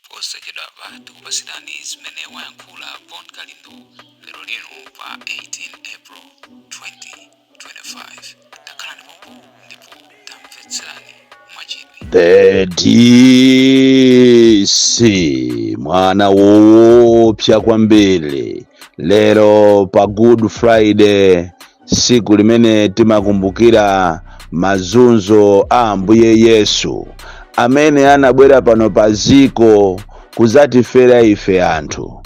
Posachedwapa tikupatsirani zimene wayankhula Bon Kalindo lero lino pa 18 April 2025. Takhalani pompo ndipo tamvetserani mwachidwi. The DC mwana woopsa kwambiri lero pa Good Friday siku limene timakumbukira mazunzo a ambuye yesu amene anabwera pano pa dziko kuzatifera ife anthu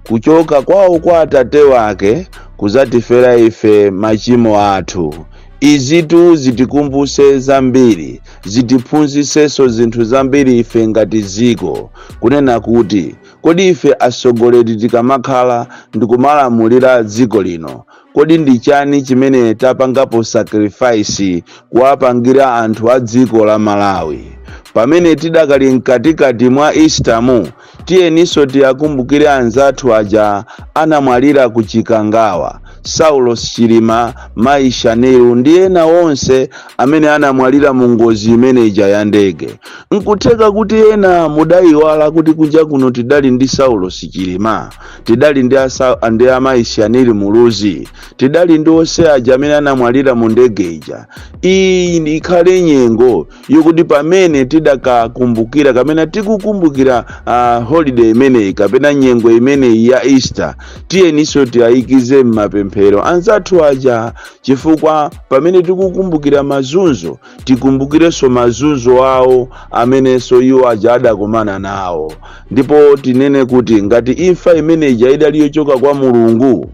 kuchoka kwawo kwa atate wake kuzatifera ife machimo athu izitu zitikumbuse zambiri zitiphunzisenso zinthu zambiri ife ngati dziko kunena kuti kodi ife atsogoleri tikamakhala ndikumalamulira dziko lino Kodi ndi chani chimene tapangapo sacrifice kuwapangira anthu a dziko la Malawi? Pamene tidakali mkatikati mwa Easter mu, tiyeninso tiakumbukire anzathu aja anamwalira ku Chikangawa, Saulos Chilima, Mayi Shanil ndi ena onse amene anamwalira mu ngozi imene ija ya ndege. Nkutheka kuti ena mudaiwala kuti kunja kuno tidali ndi Saulos Chilima. tidali ndi asa ndi amayi Shanil Muluzi tidali ndi onse aja amene anamwalira mu ndege ija iyi ndi- ikhale nyengo yokuti pamene tidakakumbukira kapena tikukumbukira uh, holiday imeneyi kapena nyengo imeneyi ya easter tiyeninso tiyayikize m'mapemphero anzathu aja chifukwa pamene tikukumbukira mazunzo tikumbukirenso mazunzo awo amenenso iwo aja adakumana nawo ndipo tinene kuti ngati imfa imene ija idali yochoka kwa mulungu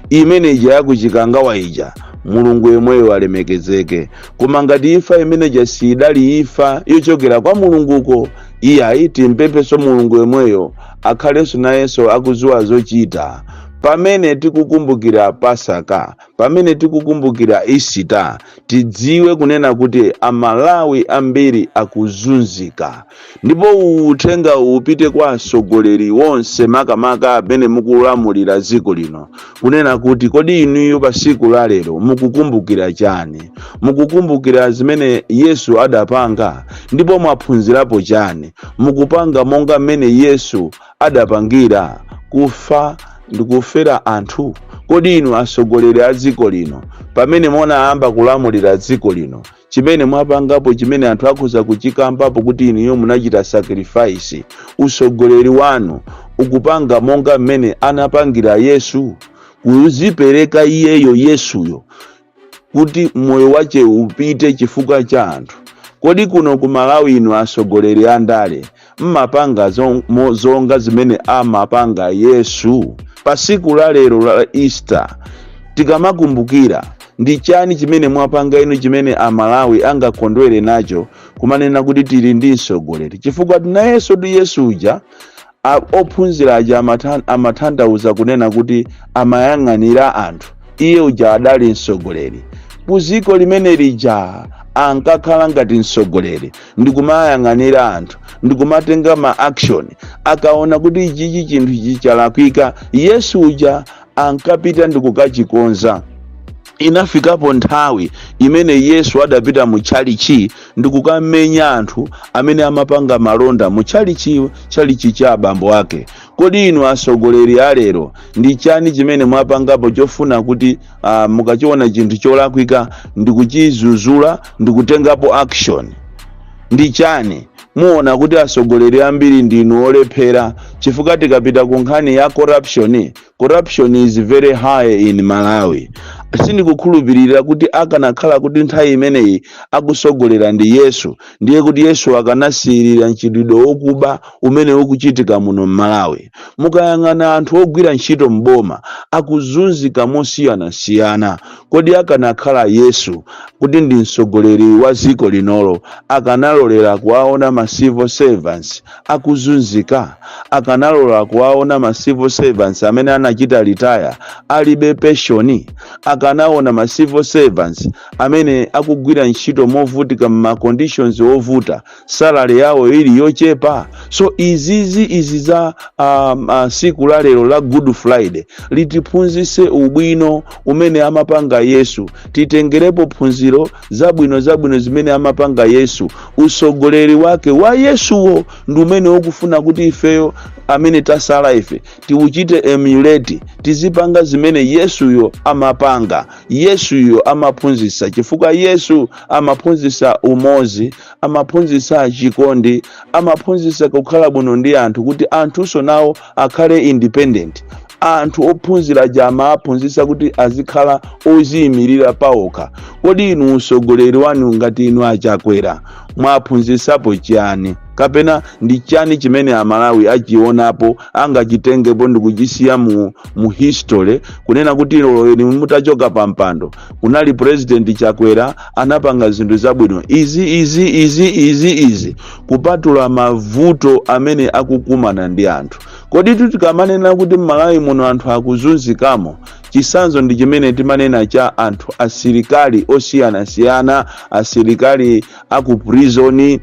imene ija yakuchikangawa ija mulungu yemweyo alemekezeke koma ngati imfa imene ija sidali imfa yochokera kwa mulunguko iyayi timpemphenso mulungu yemweyo akhalenso nayenso akudziwa zochita pamene tikukumbukira pasaka Pamene tikukumbukira Isita, tidziwe kunena kuti a Malawi ambiri akuzunzika. Ndipo uthenga uwu upite kwa atsogoleri onse makamaka amene mukulamulira dziko lino. Kunena kuti kodi inuyo pa tsiku la lero mukukumbukira chani? Mukukumbukira zimene Yesu adapanga? Ndipo mwaphunzirapo chani? Mukupanga monga mmene Yesu adapangira? Kufa ndi kufera anthu? Kodi inu atsogoleri a dziko lino, pamene munayamba kulamulira dziko lino, chimene mwapangapo chimene anthu akhoza kuchikambapo kuti inuyo munachita sacrifice? Utsogoleri wanu ukupanga monga mmene anapangira Yesu, kuzipereka iyeyo Yesuyo kuti moyo wache upite chifukwa cha anthu kodi kuno ku malawi inu asogoleri a ndale mmapanga zo- mo- zonga zimene amapanga yesu pa siku la lero la easter tikamakumbukira ndi chani chimene mwapanga inu chimene amalawi angakondwere nacho kumanena kuti tili ndi msogoleri chifukwa nayenso ndi yesu uja Ophunzira aja amatha, amatanthauza kunena kuti amayang'anira anthu. Iye uja adali mtsogoleri. Ku dziko limene lija ankakhala ngati mtsogoleri ndikumayang'anira anthu ndikumatenga ma action. Akaona kuti ichichi chinthu ichi chalakwika, Yesu uja ankapita ndikukachikonza. Inafikapo nthawi imene Yesu adapita mu tchalitchi ndi kukamenya anthu amene amapanga malonda mu tchalitchi tchalitchi cha abambo ake. Kodi inu atsogoleri a lero ndi chani chimene mwapangapo chofuna kuti ah, mukachiona chinthu cholakwika ndi kuchizuzula ndi kutengapo action? ndi chani muona kuti atsogoleri ambiri ndinu olephera chifukwa tikapita ku nkhani ya corruption corruption is very high in malawi sindikukhulupirira kuti akanakhala kuti nthawi imeneyi akusogolera ndi yesu ndiye kuti yesu akanasiyirira mchitidwe wokuba umene ukuchitika muno mmalawi mukayang'ana anthu ogwira ntchito mboma akuzunzika mosiyanasiyana kodi akanakhala yesu kuti ndi mtsogoleri wa dziko linolo akanalolera kuwaona ma civil servants akuzunzika akanalola kuwaona ma civil servants amene anachita retire alibe penshoni akanaona ma civil servants amene akugwira ntchito movutika mma conditions ovuta salary yawo ili yochepa so izizi izi za um, uh, siku la lero la good friday litiphunzise ubwino umene amapanga yesu titengerepo phunziro zabwino zabwino zimene amapanga Yesu, utsogoleri wake wa Yesuwo ndi umene ukufuna kuti ifeyo amene tasala ife tiuchite emulate, tizipanga zimene Yesuyo amapanga, Yesuyo amaphunzitsa, chifukwa Yesu amaphunzitsa umodzi, amaphunzitsa chikondi, amaphunzitsa kukhala bwino ndi anthu kuti anthunso nawo akhale independent anthu ophunzira aja amawaphunzitsa kuti azikhala oziyimirira paokha kodi inu utsogoleri wanu ngati inu achakwera mwaphunzitsapo chiyani kapena ndi chani chimene amalawi achionapo angachitengepo ndikuchisiya mu, mu history kunena kuti lero inu mutachoka pa mpando kunali president chakwera anapanga zinthu zabwino izi izi izi izi izi kupatula mavuto amene akukumana ndi anthu kodi tikamanena kuti mmalawi muno anthu akuzunzikamo chisanzo ndi chimene timanena cha anthu asilikali osiyanasiyana asilikali aku prizoni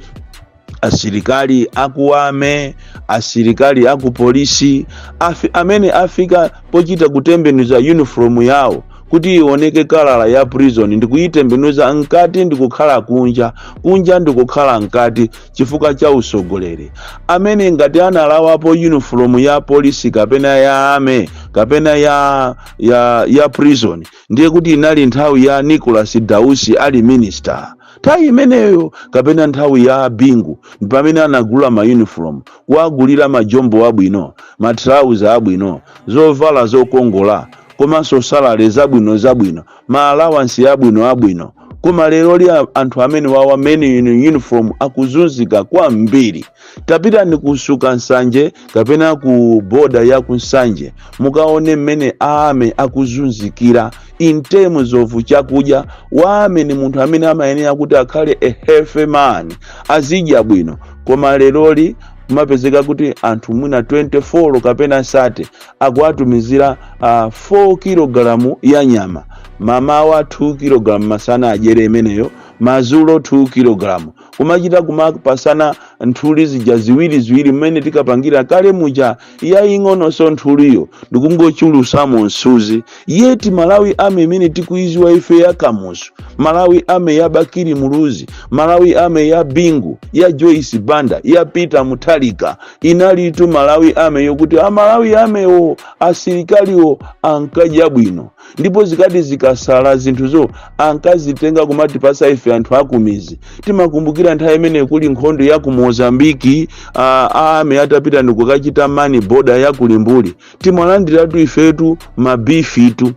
asilikali aku ame asilikali akupolisi afi, amene afika pochita kutembenuza uniform yawo kuti ioneke kalala ya prison ndikuyitembenuza mkati ndikukhala kunja kunja ndikukhala mkati chifukwa cha usogoleri amene ngati analawapo uniform ya polisi kapena ya ame kapena ya ya ya prison ndiye kuti inali nthawi ya nicholas dausi ali minister nthawi imeneyo kapena nthawi ya bingu pamene anagula ma uniform kuwagulira majombo abwino matrauza abwino zovala zokongola komanso salale zabwino zabwino ma allowance abwino abwino koma lero li a- anthu amene wawa men in uniform akuzunzika kwambiri tapitani ku nsuka nsanje kapena ku boda ya ku nsanje mukaone mmene aame akuzunzikira in terms of chakudya waame ni munthu amene amayenera kuti akhale a healthy man azidya bwino koma leroli kumapezeka kuti anthu mwina 24 kapena 30 akuwatumizira uh, 4 kilogalamu ya nyama mamawa 2 kilogalamu masana adyere imeneyo mazulo 2 kilogalamu kumachita kumapasana nthuli zija ziwiri ziwiri mmene tinkapangira kale muja yaying'ononso nthuliyo ndikungochulusamo msuzi yeti malawi ame imene tikuiziwa ife ya kamuzu malawi ame ya bakiri muluzi malawi ame ya bingu ya joyce banda ya peter muthalika inalitu malawi ame yokuti a malawi amewo asilikaliwo ankadya bwino ndipo zikati zikasala zinthuzo ankazitenga kumatipasa ife anthu akumizi timakumbukira nthawi imene kuli nkhondo ya ku mozambiki aame atapita ndikukachita mani boda ya kulimbuli timalandiratu ifetu mabifitu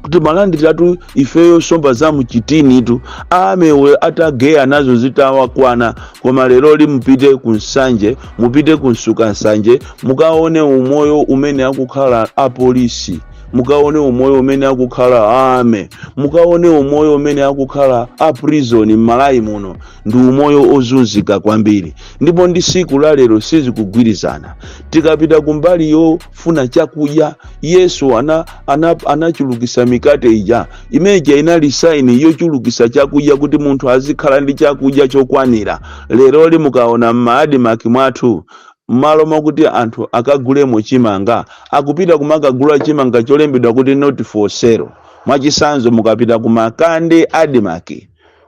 timalandiratu ifeyo somba za mchitinitu aame atageya nazo zitawakwana koma leroli mupite ku nsanje mupite ku nsuka nsanje mukaone umoyo umene akukhala apolisi mukaone umoyo umene akukhala aame mukaone umoyo umene akukhala a prison m'malawi muno ndi umoyo ozunzika kwambiri ndipo ndi siku la lero sizikugwirizana tikapita kumbali yofuna chakudya yesu ana, ana, anachulukisa mikate ija imeja inali saini yochulukisa chakudya kuti munthu azikhala ndi chakudya chokwanira leroli mukaona m'maadimaki mwathu Mmalo mokuti anthu akagulemo chimanga, akupita kumakagula chimanga cholembedwa kuti not for sale. Mwachisanzo mukapita ku Makande Admarc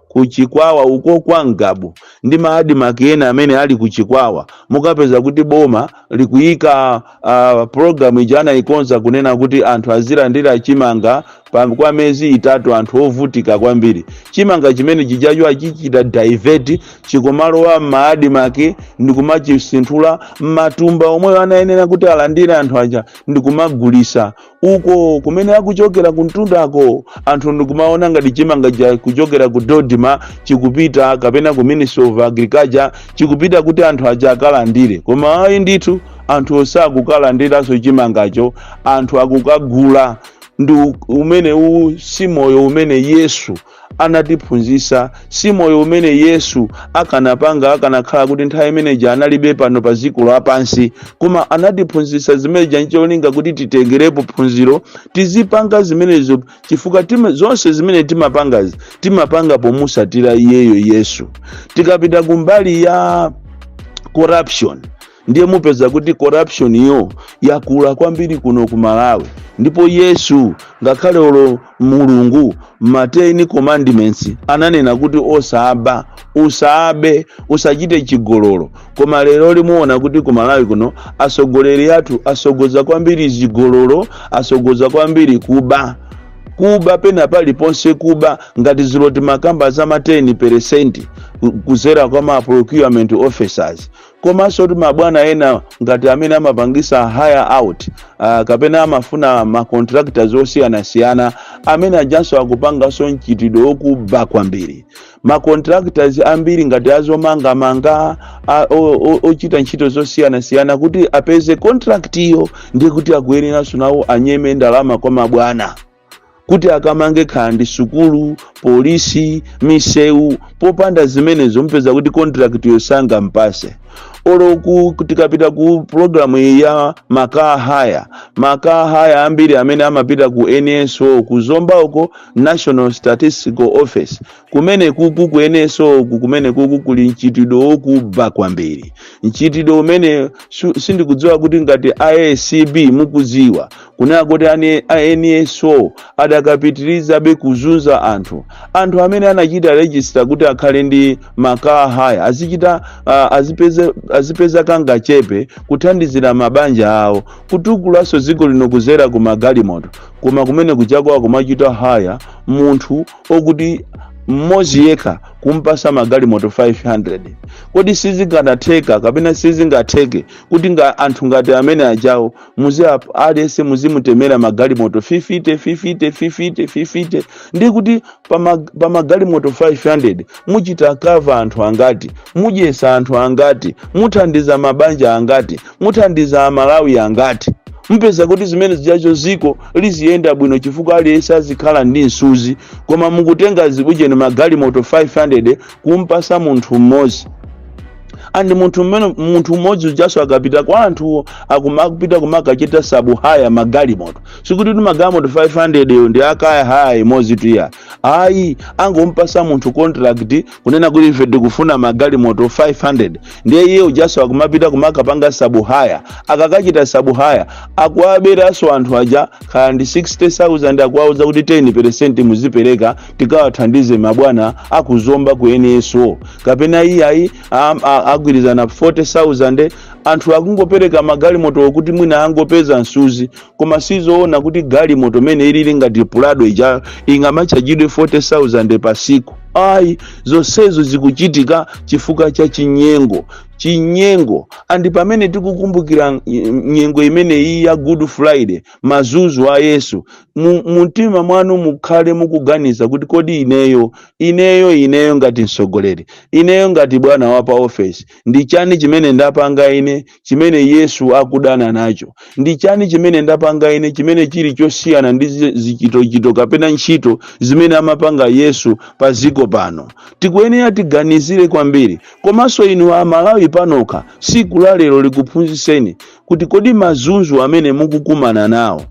ku Chikwawa uko kwa Ngabu ndi ma Admarc ena amene ali ku Chikwawa, mukapeza kuti boma likuyika uh, program ija anayikonza kunena kuti anthu azilandira chimanga Pa, kwa mezi itatu anthu ovutika kwambiri chimanga chimene chijacho achichita divert chikumalowa m'maadimaki ndikumachisinthula m'matumba omweyo anayenera kuti alandire anthu aja ndikumagulisa uko kumene akuchokera kuntundako anthu ndikumaona ngati chimanga cha kuchokera ku DoDMA chikupita kapena ku ministry of agriculture chikupita kuti anthu aja akalandire koma ayi ndithu anthu osakukalandiranso chimangacho anthu akukagula ndi u- umene uwu si moyo umene yesu anatiphunzitsa si moyo umene yesu akanapanga akanakhala kuti nthawi imeneja analipo pano pa dziko lapansi koma anatiphunzitsa zimeneja ncholinga kuti titengerepo phunziro tizipanga zimenezo chifukwa tima, zonse zimene timapangazi timapanga pomusatira iyeyo yesu tikapita kumbali ya corruption ndiye mupeza kuti corruption yo yakula kwambiri kuno ku malawi ndipo yesu ngakhale olo mulungu ma ten commandments ananena kuti osaba usabe usachite chigololo koma lero lino muona kuti ku malawi kuno atsogoleri athu atsogoza kwambiri zigololo atsogoza kwambiri kuba kuba pena paliponse kuba ngati zija timakamba za ma 10 peresenti kuzera kwa ma procurement officers komanso kuti mabwana ena ngati amene amapangisa hire out uh, kapena amafuna ma contractors osiyanasiyana amene ajanso akupanganso mchitidwe wokuba kwambiri ma contractors ambiri ngati azomangamanga a- o- o- ochita ntchito zosiyanasiyana kuti apeze contract iyo ndiye kuti akuyenera nawonso anyeme ndalama kwa mabwana kuti akamange kaya ndi sukulu polisi misewu popanda zimenezo mupeza kuti contract yo sangampase olo ku- ku- tikapita ku programu iyi ya makaa haya makaa haya ambiri amene amapita ku nso ku zomba uko national statistical office Kumenekuku ku NSO uku kumenekuku kuli mchitidwe wokuba kwambiri mchitidwe umene su- sindikudziwa kuti ngati acb mukudziwa kunena kuti ane- a nso adakapitirizabe kuzunza anthu anthu amene anachita rejista kuti akhale ndi makaa haya azichita ah, azipeze- azipeza kangachepe kuthandizira mabanja awo kutukulaso dziko lino kuzera ku magalimoto koma kumene kuja akumachita haya munthu okuti mmodzi yekha kumpasa magalimoto 500 kodi sizinganatheka kapena sizingatheke kuti nga anthu ngati amene ajawo muzi ap- aliyense muzimutemera magalimoto 50 50 50 50 ndi kuti pa mag- pa magalimoto 500 muchita kava anthu angati mudyesa anthu angati muthandiza mabanja angati muthandiza amalawi angati mupeza kuti zimene zijazo ziko liziyenda bwino chifukwa aliyense azikhala ndi msuzi koma mukutenga zibujeni magalimoto 500 kumpasa munthu mmodzi and munthu mmene munthu mmodzi ujaso akapita kwa anthu akumapita kumakachita sabu haya magalimoto sikuti kuti magalimoto 500 yo ndi akaya haya imodzi tuya ayi angompasa munthu contract kunena kuti ife tikufuna magalimoto 500 ndiye iye ujaso akumapita kumakapanga sabu haya akakachita sabu haya akuwaberanso anthu aja khala ndi 60000 akuwauza kuti 10 muzipereka tikawathandize mabwana aku zomba ku nso kapena iye ayi am- a- agwirizana 40000 anthu akungopereka magalimoto kuti mwina angopeza msuzi koma sizoona kuti galimoto mene ilili ngati pulado ija ingamachajidwe 40000 pa siku ayi zonsezo zikuchitika chifukwa cha chinyengo chinyengo andi pamene tikukumbukira ny- nyengo imeneyi ya good friday mazunzo a yesu mu mu mtima mwanu mukhale mukuganiza kuti kodi ineyo ineyo ineyo ngati mtsogoleri ineyo ngati bwana wa pa ofesi ndi chani chimene ndapanga ine chimene Yesu akudana nacho. Ndi chani chimene ndapanga ine chimene chili chosiyana ndi zi- zichitochito kapena ntchito zimene amapanga Yesu pa dziko pano? Tikuyenera tiganizire kwambiri. Komanso inu a Malawi panokha, tsiku la lero likuphunzitseni kuti kodi mazunzo amene mukukumana nawo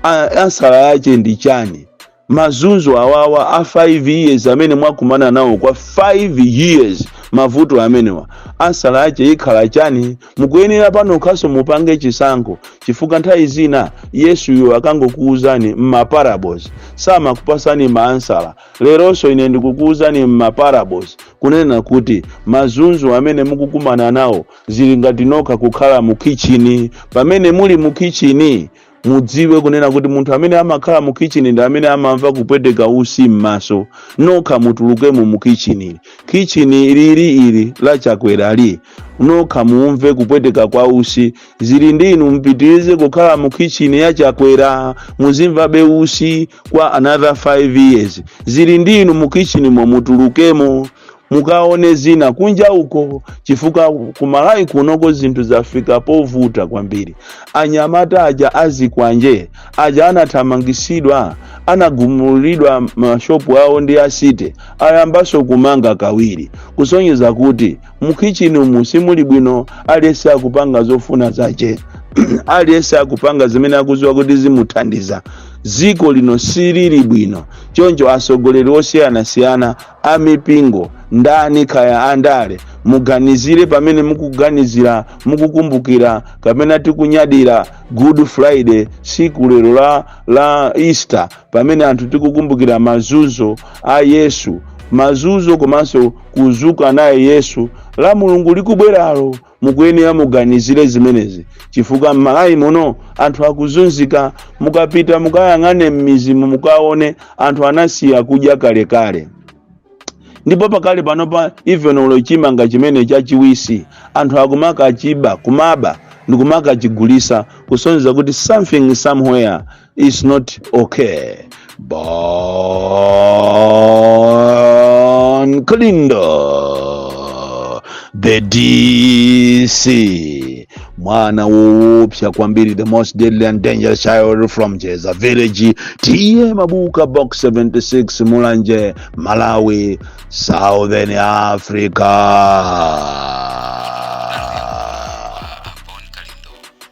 a- ansala yache ndi chani? Mazunzo awawa a 5 years amene mwakumana nawo kwa 5 years mavuto amenewa ansala yache ikhala chani mukuyenera panokhanso mupange chisankho chifukwa nthawi zina yesuyo akangokuuzani mma parables samakupasani ma ansala leronso ine ndikukuuzani mma parables kunena kuti mazunzo amene mukukumana nawo zili ngati nokha kukhala mu kitchini pamene muli mu kitchini mudziwe kunena kuti munthu amene amakhala mu kitchen ndi amene amamva kupweteka usi m'maso nokha mutulukemo mu kitchen kitchen lili ili la chakwerali nokha muumve kupweteka kwa usi zili ndi inu mupitirize kukhala mu kitchen ya chakwera muzimvabe usi kwa another 5 years zili ndi inu mu kitchenmo mutulukemo mukaone zina kunja uko chifukwa kumalawi kunoko zinthu zafika povuta kwambiri anyamata aja azikwanje aja anathamangisidwa anagumulidwa mashopu awo ndi a city ayambaso kumanga kachiwiri kusonyeza kuti mukhichini umu simuli bwino aliyense akupanga zofuna zache aliyense akupanga zimene akuziwa kuti zimuthandiza dziko lino silili bwino choncho atsogoleri osiyanasiyana a mipingo ndani kaya andale muganizire pamene mukuganizira mukukumbukira kapena tikunyadira good friday tsiku lero la easter pamene anthu tikukumbukira mazuzo a yesu mazuzo komanso kuzuka naye yesu la mulungu likubweralo Mukuyenera muganizire zimenezi chifukwa m'Malawi muno anthu akuzunzika. Mukapita mukayang'ane m'mizimu mukaone anthu anasiya kudya kalekale ndipo pakali panopa even though chimanga chimene chachiwisi anthu akumakachiba kumaba ndikumakachigulisa kusonyeza kuti something somewhere is not okay Bon Kalindo the DC mwana woopsa kwambiri the most deadly and dangerous child from Jeza village tiye mabuka box 76 mulanje malawi southern africa